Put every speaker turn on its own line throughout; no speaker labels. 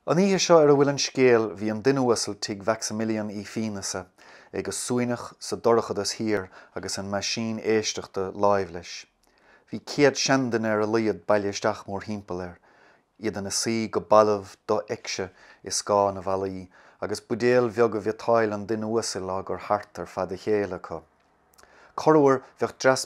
An oíche seo ar a bhfuil an scéal bhí an duine uasal tigh Mhaximilian Uí Phíonasa, é go suaimhneach sa dorchadas thiar agus an meaisín éisteachta láimh leis. Bhí céad seanduine ar a laghad bailithe isteach mórthimpeall air, iad ina suí go balbh do-fheicse i scáth na bhfallaí agus buidéil bheaga bhiotáille an duine uasail á gcur thart ar fad a chéile acu. Corruair bheadh dreas.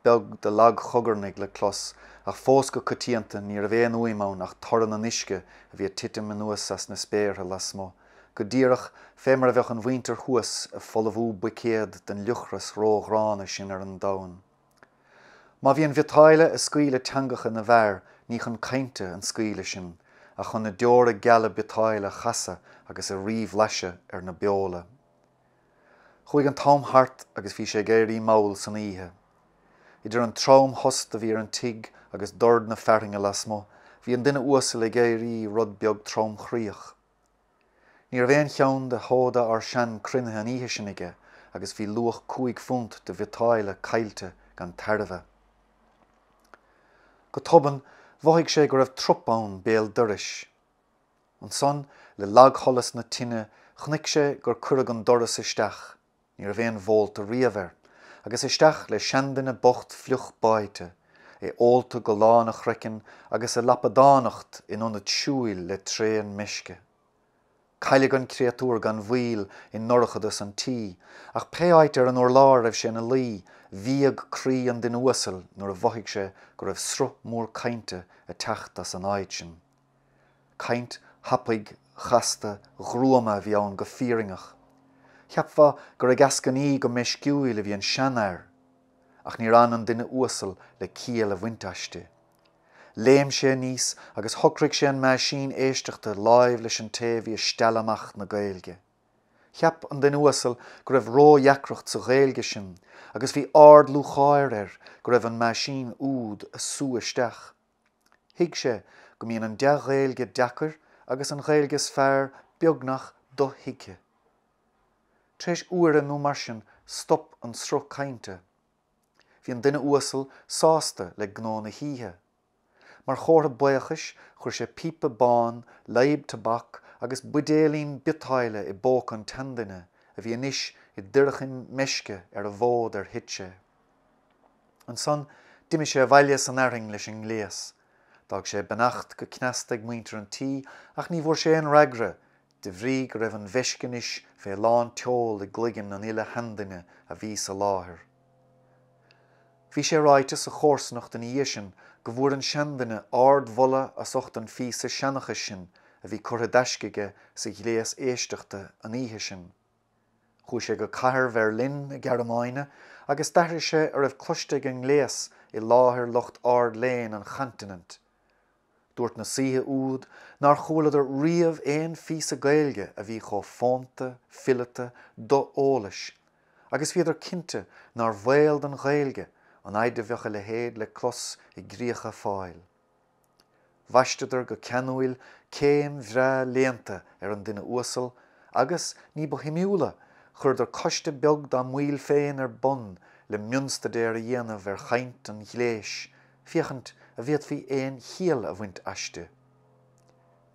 beag de lagchogarnaigh le clos, ach fós go coitianta ní raibh aon fhuaim ann ach torann an uisce a bhí ag titim anuas as na spéartha lasmuigh, go díreach fé mar a bheadh an mhuintir thuas ag folmhú buicéad den fhliuchras ró-ghránna sin ar an domhan. Má bhí an bhiotáille ag scaoileadh teangacha na bhfear ní chun cainte an scaoileadh sin, ach chun na deora geala biotáille a chasadh agus a ríbhlaiseadh ar na beola. Chuaigh an t-am thart agus bhí sé ag éirí mall san oíche. Idir an tromthost a bhí ar an tigh agus dord na fearthainne lasmuigh, bhí an duine uasal ag éirí rud beag tromchroíoch. Ní raibh aon cheann de sheoda ár sean cruinnithe an oíche sin aige agus bhí luach cúig phunt de bhiotáille caillte gan tairbhe. Go tobann, mhothaigh sé go raibh trup ann béal dorais. Ansan, le lagsholas na tine, chonaic sé gur cuireadh an doras isteach, ní raibh aon bhólta riamh air, agus isteach le seanduine bocht fliuch báite, é ólta go lán a chroicinn agus ag lapadánacht in ionad siúil le tréan meisce. Cailleadh an créatúr gan mhoill i ndorchadas an tí, ach pé áit ar an urlár a raibh sé ina luí, bhíog croí an duine uasail nuair a mhothaigh sé go raibh sruth mór cainte ag teacht as an áit sin. Caint thapaidh chasta ghruama a bhí ann go fírinneach. Cheapfá gur ag eascainí go meisciúil a bhí an seanfhear, ach níor fhan an duine uasal le ciall a bhaint aisti. Léim sé aníos agus shocraigh sé an meaisín éisteachta láimh leis an té a bhí ag stealladh amach na Gaeilge. Cheap an duine uasal go raibh ródheacracht sa Ghaeilge sin agus bhí ard-lúcháir air go raibh an meaisín úd á sú isteach. Thuig sé go mbíonn an dea-Ghaeilge deacair agus an Ghaeilge is fearr beagnach do-thuigthe. Tar éis uaire nó mar sin stop an sruth cainte. Bhí an duine uasal sásta le gnó na hoíche. Mar chomhartha buíochais chuir sé píopa bán, leadhb tobac agus buidéailín biotáille i bpóca an tseanduine, a bhí anois i dtoirchim meisce ar an bhfód ar thit sé. Ansan d'imigh sé abhaile san fhearthainn leis an ngléas. D'fhág sé beannacht go cneasta ag muintir an tí ach ní bhfuair sé aon fhreagra, de bhrí go raibh an mheisce anois fé lántseol i gcloigeann an uile sheanduine a bhí sa láthair. Bhí sé ráite sa chomharsanacht ina dhiaidh sin go bhfuair an seanduine ardmholadh as ucht an phíosa seanchais sin a bhí curtha i dtaisce aige sa ghléas éisteachta an oíche sin. Chuaigh sé go cathair Bherlin na Gearmáine agus d'aithris sé a raibh cloiste ag an ngléas i láthair lucht ardléinn an Chontinent. Dúirt na saoithe úd nár chualadar riamh aon phíosa Gaeilge a bhí chomh fónta, fileata, do-eolais, agus bhíodar cinnte nár bhaol don Ghaeilge an fhaid a bheadh a leithéid le clos i gcríocha Fáil. Bhaisteadar go ceanúil céim bhreá léannta ar an duine uasal agus, ní ba shuimiúla, chuireadar coiste beag dá mbaill féin ar bun le mionstaidéar a dhéanamh ar chaint an ghléis féachaint a bhféadfaí aon chiall a bhaint aisti.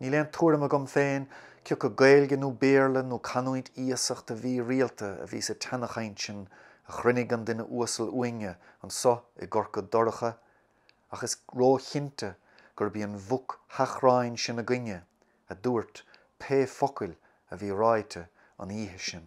Níl aon tuairim agam féin cioca Gaeilge nó Béarla nó canúint iasachta mhírialta a bhí sa tseanchaint sin a chruinnigh an duine uasal uainne anso i gCorca Dorcha ach is róchinnte gurb í an mhuc sheachráin sin againne a dúirt pé focail a bhí ráite an oíche sin.